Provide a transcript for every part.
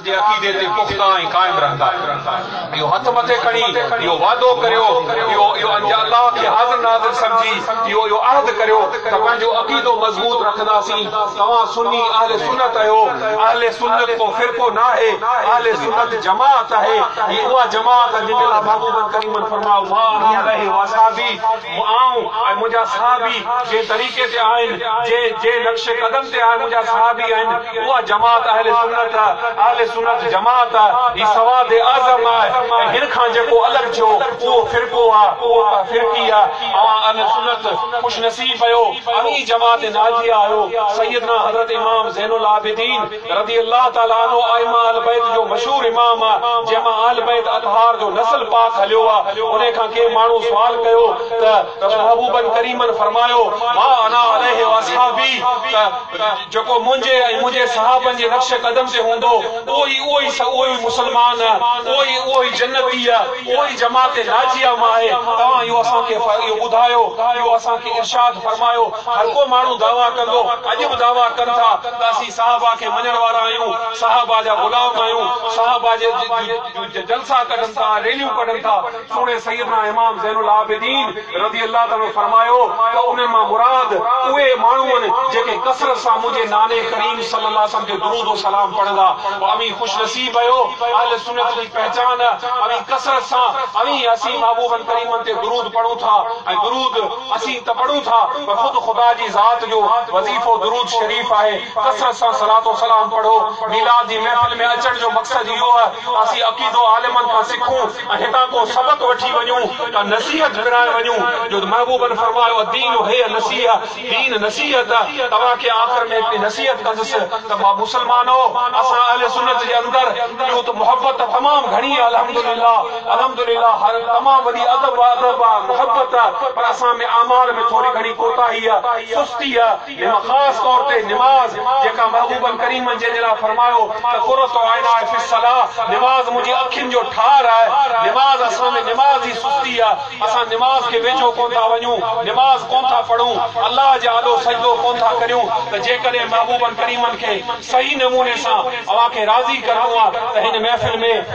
جي عقيدي تي پختا ۽ قائم رهندا. اهو هٿ مٿي کڻي، اهو وعدو ڪريو، اهو اهو انجا الله کي حاضر ناظر سمجهي، اهو اهو عهد ڪريو ته پنهنجو عقيدو مضبوط رکنداسين. توهان سني اهل سنت اهيو. اهل سنت ڪو فرقو ناهي، اهل سنت جماعت اهي. هي اها جماعت آهي جنهن جي لاء محبوبن ڪريمن فرمايو، ما انا عليه واصحابي. آئون ۽ منهنجا صحابي جنهن طريقي تي آهن، جنهن جنهن نقش قدم تي آهن منهنجا صحابي آهن، اها جماعت اهل سنت آهي، اهل سنت جماعت آهي، هي سواد اعظم آهي ۽ هن کان جيڪو الڳ ٿيو اهو فرقو آهي، اهو ته فرقي آهي، اوهان اهل سنت خوش نصيب اهيو، اوهين جماعت ناجيه آهيو، سيدنا حضرت امام زين العابدين. رضي الله تعالٰي عنه ائمه اهل بيت جو مشهور امام آ، جنهن مان اهل بيت اطهار جو نسل پاڪ هليو آ، انهي کان ڪنهن ماڻهو سوال ڪيو ته رسول محبوبن ڪريمن فرمايو، ما انا عليه واصحابي ته جيڪو منهنجي ۽ منهنجي صحابن جي نقش قدم تي هوندو اهو ئي اهو ئي اهو ئي مسلمان آ، اهو ئي اهو ئي جنتي آ، اهو ئي جماعت ناجيه مان آهي، توهان اهو اسان کي اهو ٻڌايو، اهو اسان کي ارشاد فرمايو. هر ڪو ماڻهو دعويٰ ڪندو، اڄ به دعويٰ ڪن ٿا ته اسين صحابه کي مڃڻ وارا آهيون، صحابه جا غلام آهيون، صحابه جي جا جلسا ڪڍن ٿا، ريليون ڪڍن ٿا، سوڻي سيدنا امام زين العابدين رضي الله تعالٰي عنه فرمايو ته انهن مان مراد اهي ماڻهو آهن جيڪي ڪثرت سان منهنجي ناني ڪريم صلّي اللّٰه عليه وسلّم تي درود و سلام پڙهندا، اوهين خوش نصيب آهيو، اهل سنّت جي پهچان اوهين ڪثرت سان اوهين اسين محبوبن ڪريمن تي درود پڙهون ٿا ۽ درود. اسين ته پڙهون ٿا پر خود خدا جي ذات جو وظيفو درود شريف آهي، ڪثرت سان صلات و سلام پڙهو، ميلاد جي محفل ۾ اچڻ جو مقصد اهو آهي ته اسين عقيدو عالمن کان سکون ۽ هتان ڪو سبق وٺي وڃون، ڪا نصيحت پرائي وڃون جو محبوبن فرمايو الدين هي النصيحه، دين نصيحت آهي، توهان کي آخر ۾ هڪڙي نصيحت ڪندس ته ماء مسلمانؤ! اسان اهل سنت جي اندر ڏيون ته محبت ته تمام گهڻي آهي الحمدلله، الحمدلله هر تمام وڏي ادب و ادب آ محبت آ پر اسان ۾ اعمال ۾ ٿوري گهڻي ڪوتاهي آ سستي آ نم خاص طور تي نماز جيڪا محبوبن ڪريمن جنهن جي لاء فرمايو ته قرة عيناء في الصلاة نماز منهنجي اکين جو ٺار آهي نماز اسان ۾ نماز جي سستي آ اسان نماز کي ويجهو ڪون ٿا وڃون نماز ڪون ٿا پڙهون الله جي آڏو سجدو ڪون ٿا ڪريون ته جيڪڏهن محبوبن ڪريمن کي صحيح نموني سان اوهان کي راضي ڪرڻو آ ته هن محفل ۾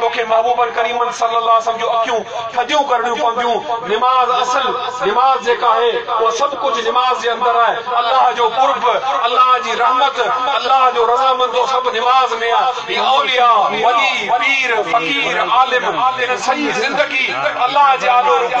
توکي محبوبن ڪريمن صلّي اللّٰه عليه وسلّم جون اکيون ٿڌيون ڪرڻيون پونديون، نماز اصل نماز جيڪا آهي اها سڀ ڪجهه نماز جي اندر آهي، الله جو قرب، الله جي رحمت، الله جو رضامندو سڀ نماز ۾ آهي، هي اولياء، ولي، پير، فقير، عالم، انهن سڄي زندگي الله جي آڏو رڳو.